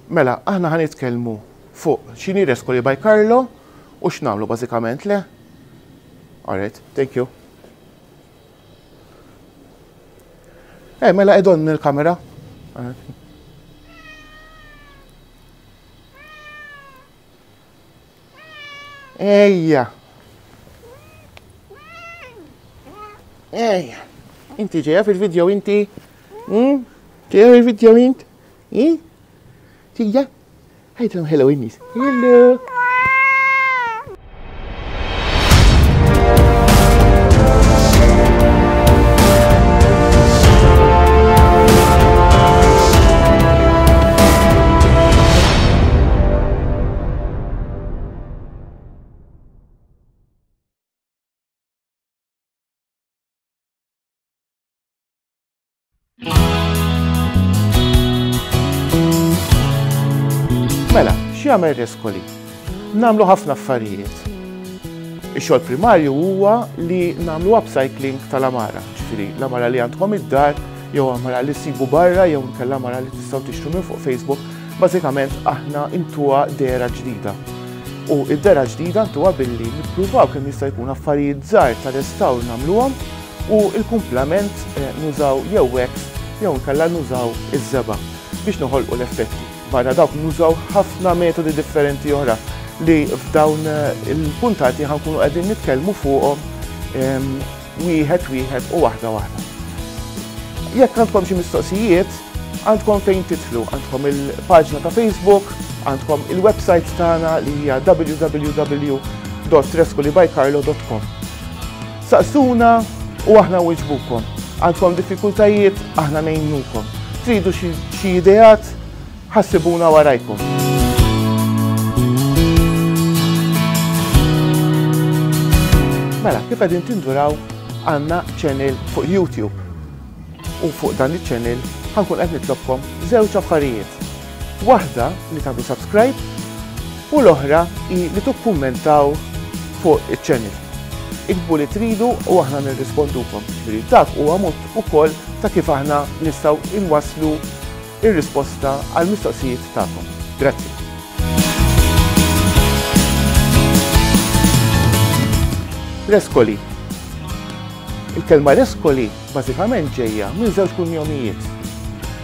Mela, aħna ħan nitkellmu fuq xini reskoli by Carlo u x'namlu bażikament le. Alright, thank you. Eh, mela edon il-kamera. Ejja. Ejja. Inti ġeja fil-video inti? Hmm? Ġeja fil-video int? Hmm? Ġeja? Ħajtlom hello innis. Hello. Mela, x'jagħmel Rescoli? Namlu ħafna affarijiet. Ix-xogħol primarju huwa li namlu upcycling tal-amara, ġifieri l-amara li għandkom id-dar, jew amara li sibu barra, jew nkella amara li tistgħu tixtru minn fuq Facebook, Bażikament aħna intuha dera ġdida. U id-dera ġdida ntuha billi nippruvaw kemm jista' jkun affarijiet żgħar ta' restawr nagħmluhom u l-kumplament eh, nużaw jew wax jew nkella nużaw iż-żeba' biex noħolqu l-effetti. Barra dawk nużaw ħafna metodi differenti oħra li f'dawn eh, il-puntati ħankunu qegħdin nitkellmu fuqhom ehm, wieħed wieħed u waħda waħda. Jekk għandkom xi mistoqsijiet, għandkom fejn titlu, għandkom il-paġna ta' Facebook, għandkom il-website tagħna li hija www.treskulibycarlo.com. Saqsuna u aħna wiġbukom. Għandkom diffikultajiet, aħna nejnukom. Tridu xi ideat, Ħassibuna warajkom. Mela, kif qegħdin tinduraw għandna channel fuq YouTube. U fuq dan iċ-channel ħankun qed nitlobkom żewġ affarijiet. Waħda li tagħmlu subscribe u l-oħra hi li tukkummentaw fuq iċ-channel. Ikbu li tridu u aħna nirrispondukom. Ġifieri dak huwa mod ukoll ta' kif aħna nistgħu inwasslu ir-risposta għall-mistoqsijiet tagħkom. Grazzi. Reskoli. Il-kelma reskoli bażikament ġejja minn żewġ kunjomijiet.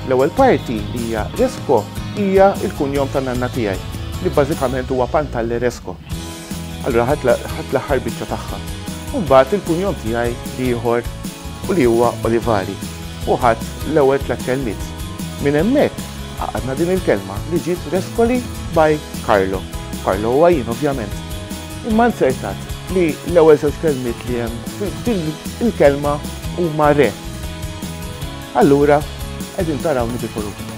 L-ewwel parti li hija resko hija l-kunjom ta' nanna tiegħi li bażikament huwa Pantalle Resko. Allura ħadt l-aħħar biċċa tagħha. U mbagħad il-kunjom tiegħi l-ieħor u li huwa Olivari. U ħadt l-ewwel tliet kelmiet. Minn hemmhekk għaqadna din il-kelma li ġiet Rescoli by Carlo. Carlo huwa jien ovvjament. Imma nzertat li l-ewwel żewġ kelmiet li hemm f'din il-kelma huma re. Allura qegħdin tarawni bil-koruna.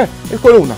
Eh, il-koruna!